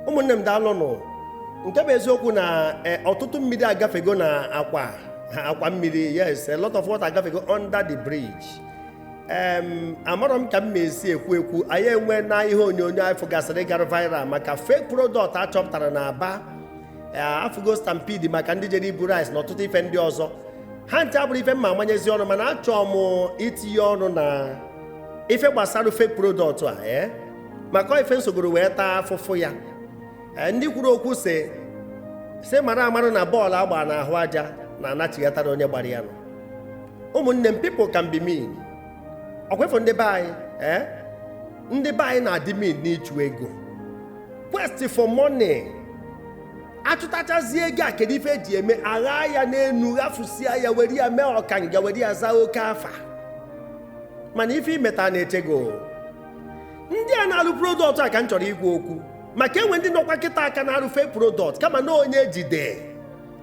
ụmụnne m daalụnụ nke bụ eziokwu na eh, ọtụtụ mmiri agafego na akwa akwa mmiri yes a lot of water agafego under the bridge amarọ m ka m ma-esi ekwu ekwu anyị enwena ihe onyonyo anyị fụgasịrị gara viral maka fake product a chọpụtara na aba eh, afụgo stampede maka ndị jere ibu rice na ọtụtụ ife ndị ọzọ ha ncha abụrọ ife m ma-amanyezi ọnụ mana achọọ m itinye ọnụ na ife gbasara fake product a ee eh? maka ife m sogoro wee taa afụfụ ya e, ndị kwuru okwu sị sị mara amara na bọọlụ a gbaa n'ahụ aja na-anachighatara onye gbara ya nụ ụmụnne m people can be mean ọkwa ịfụ ndị be anyị ee ndị be anyị na-adị mean n'ịchụ ego quest for money achụtachazie ego a kedu ife eji eme a ghaa ya n'enu ghafusia ya were ya mee ọkanga were ya zaa oke afa mana ife i meta na-eche gị ndị a na-alụ product a ka m chọrọ ikwu okwu maka enwe ndị nọkwa kịtaa ka na-arụ fake product kama na onye e jide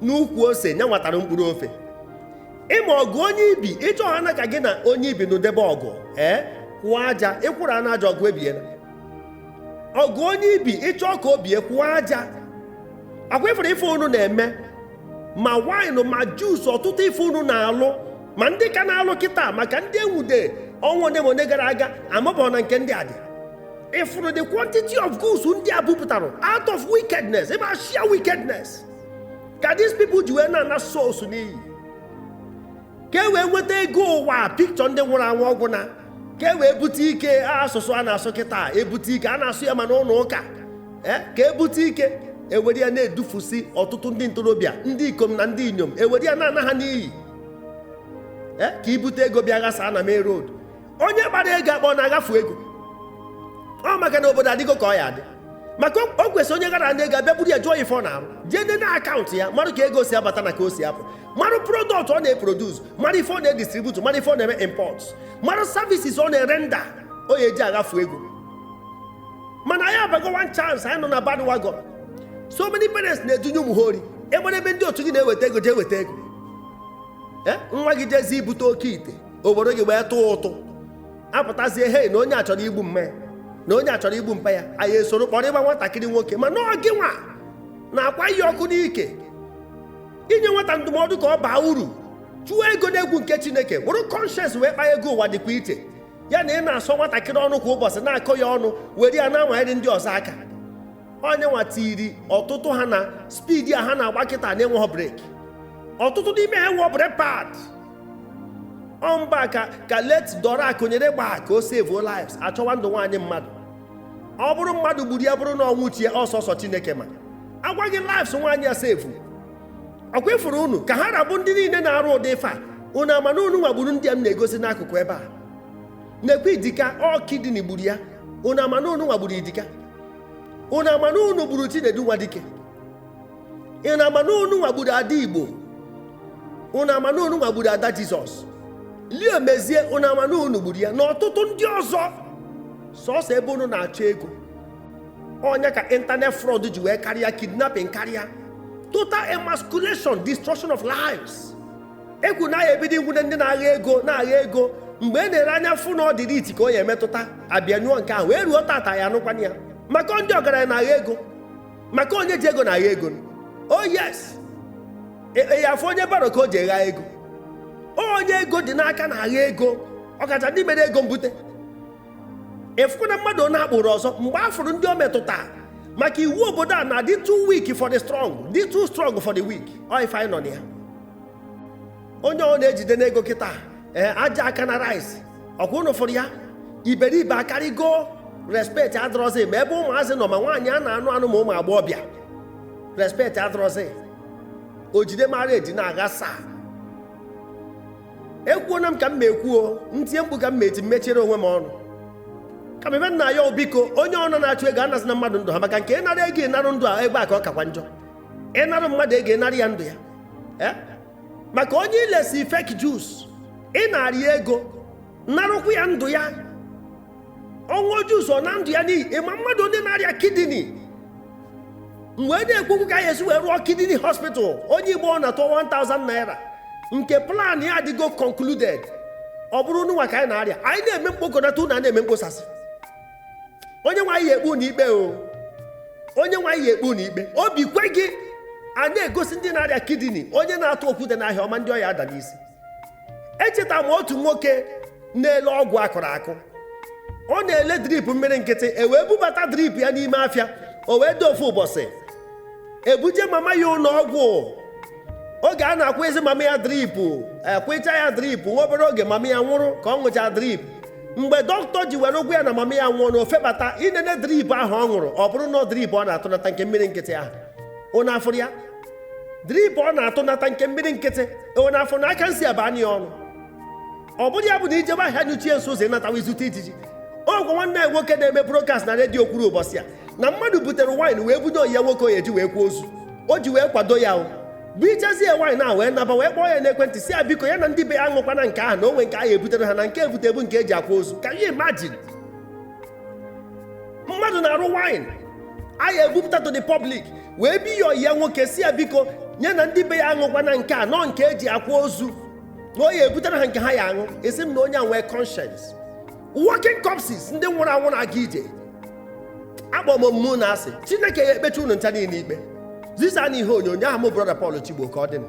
n'ukwu ose nya nwa tara mkpụrụ ofe ịma ọgụ onye ibi ịchọ ha na ka gị na onye ibi nụdebe ọgụ ee kwụọ aja ịkwụrụ ana aja ọgụ ebiela ọgụ onye ibi ịchọ ka o bie kwụọ aja ọkwa ịfụrụ ife unu na-eme ma wine ma juice ọtụtụ ife unu na-alụ ma ndị ka na-alụ kịta maka ndị e nwude ọnwa one ma one gara aga amabọ na nke ndị a dị ịfụrụ the quantity of goods ndị a bupụtara out of wickedness ebe a sheer wickedness ka these people ji wee na-ana souls n'iyi ka e wee nweta ego ụwa picture ndị nwụrụ anwụ ọ gwụna ka e wee bute ike asụsụ a na-asụ kịta ebute ike a na-asụ ya ma n'ụnọ ụka e, ka ebute ike ewere ya na-edufusi ọtụtụ ndị ntorobịa ndị ikom na ndị inyom ewere ya na-ana ha n'iyi eh, ka ibute ego bịa ghasa na main road onye gbara ego akpọ na-aghafu ego ọ maka na obodo adịgo ka ọ ya-adị maka o kwesịrị onye ghara na ego a bịa buru ya jụọ ife ọ na-arụ jee nene na account ya marụ ka ego si abata na ka o si apụ marụ product ọ na-eproduce marụ ife ọ na-edistribute marụ ife ọ na-eme import marụ services ọ na-erender o ya-eji aghafu ego mana anyị abago one chance anyị nọ na bandwagon so many parents na-edunye ụmụ ha ori enwere ebe ndị otu gị na-eweta ego jee weta ego e, nwa gị jezi ibute oke ite o buru gị wee tụọ ụtụ apụtazie hei na onye a chọrọ igbu mma ya na onye a chọrọ igbu mpa ya anyị esoro kpọrọ ịgba nwatakịrị nwoke mana ọ gị nwa na-akwa ya ọkụ n'ike i nye nwata ndụmọdụ ka ọ baa uru chụọ ego n'egwu nke chineke buru conscience wee kpaa ego ụwa dịkwa iche ya na ị na-asọ nwatakịrị ọnụ kwa ụbọchị na-akọ ya ọnụ were ya na-amanyere ndị ọzọ aka onye nwa tiri ọtụtụ ha na speed a ha na-agba kịta na-enweghị brake ọtụtụ n'ime ha enwerọ brake pad ọ mbọ ka late dora akunyili gba ka o sevuo lives a chọwa ndụ nwaanyị mmadụ ọ bụrụ mmadụ gburu ya bụrụ na ọnwụ chi ya ọ sọsọ chineke ma agwaghị lives nwaanyị a sevu ọkwa ị fụrụ unu ka ha ra bụ ndị niile na-arụ ụdị ife a unu ama na unu nwa gburu ndị a m na-egosi n'akụkụ ebe a nekwa idika ọ kidney gburu ya unu ama na unu nwa gburu idika unu ama na unu gburu chinedu nwadike unu ama na unu nwa gburu ada igbo unu ama na unu nwa gburu ada jesus leo mezie unu ama na unu gburu ya na ọtụtụ ndị ọzọ sọsọ ebe unu na-achọ ego ọ nya ka internet fraud ji wee karịa kidnapping karịa total emasculation destruction of lives e kwuru na a ya-ebido inwude ndị na-agha ego na-agha ego mgbe e nere anya fụ na ọ ndị elite ka ọ ya-emetụta a bịa nyụọ nke ahụ wee ruo tata ya anụkwana ya maka ọ ndị ọgaranya na-agha ego maka ọ onye ji ego na-agha ego o oh, yes e, e, ya afụ onye borrow ka o ji agha ego ọ onye ego dị n'aka na-agha ego ọkacha ndị mere ego mbute ị fụkwana mmadụ ọ na-akpụrụ ọzọ mgbe a fụrụ ndị o metụta maka iwu obodo a na-adị too weak for the strong dị too strong for the weak ọ ife anyị nọ na ya onye ọbụna jidena ego kịta ee aja aka na rice ọkwa unu fụrụ ya iberibe akarịgo respect adịrọzi ma ebe ụmụazị nọ ma nwaanyị a na-anụ anụ ma ụmụ agbọghọbịa respect adịrọzi o jide mara e ji na-aghasa ekwuona m ka m na-ekwuo m tie mkpu ka m na-eti mmechiere onwe m ọnụ kama ife m na-ayọ biko onye ọbụna na-achụ ego anazịna mmadụ ndụ ha maka nke ị narụ ego narụ ndụ a ebe a ka ọ kakwa njọ ị narụ mmadụ ego narụ ya ndụ ya eh? maka onye i lesi fake juice ị narị ya ego narụkwu ya ndụ ya ọ ṅụọ juice ọ naa ndụ ya n'ihi ị ma mmadụ one na-arịa kidney mgbe a na-ekwu okwu ka a ya-esi wee rụọ kidney hospital onye igbo ọbụna tụọ 1000 naira nke plan ya adịgo concluded ọ bụrụ unu nwa ka anyị na-arịa anyị na-eme mkpokọnata unu ana-eme mkposasị onye nwe anyị ya-ekpe unu ikpe o onye nwe anyị ya-ekpe unu ikpe obi kwe gị a na-egosi ndị na-arịa kidney onye na-atụ okwute n'ahịa ọ ma ndị ọ ya-ada n'isi echeta m otu nwoke na-ele ọgwụ akụrụ akụ ọ na-ele drip mmiri nkịtị e wee bubata drip ya n'ime afịa o wee dị ofu ụbọchị e buje mama ya ụlọ ọgwụ oge a na-akwụyezi mama ya drip a kwụyecha ya drip nwa obere oge mama ya nwụrụ ka ọ ṅụcha drip mgbe dọkịta ji were gwa ya na mama ya nwụọ na o febata inene drip ahụ ọ ṅụrụ ọ bụrụ na drip ọ na-atụnata nke mmiri nkịtị ahụ unu afụrụ ya drip ọ na-atụnata nke mmiri nkịtị e wee na-afụ na aka nsị aba anyị ọnụ ọ bụrụ ya bụ na ijebe ahịa nyụchie nsị ụzọ ịnatawa izute ijiji ọgwụ nwanne anyị nwoke na-eme broadcast na redio kwuru ụbọchị a na mmadụ butere wine wee bunye ọyị ya nwoke ọ ya eji wee kwaa ozu o ji wee kwado ya o bunyezie wine a wee naba wee kpọọ ya n'ekwentị sị ya biko ya na ndị be ya aṅụkwana nke ahụ na o nwe nke ahụ ebutere ha na nke ebute bụ nke eji akwa ozu can you imagine mmadụ na-arụ wine a na-ebupụta to the public wee bi ọyị ya nwoke sị ya biko nya na ndị be ya aṅụkwana nke a na ọ nke eji akwa ozu na ọ ya ebutere ha nke ha ya aṅụ asị m na onye a nwee conscience walking corpses ndị nwụrụ anwụ na-aga ije akpọ m mụ na-asị chineke ya ekpecha unu ncha niile ikpe zisanụ ihe onyonyo a ọ mụ brọda Paul Chigbo ka ọ dị na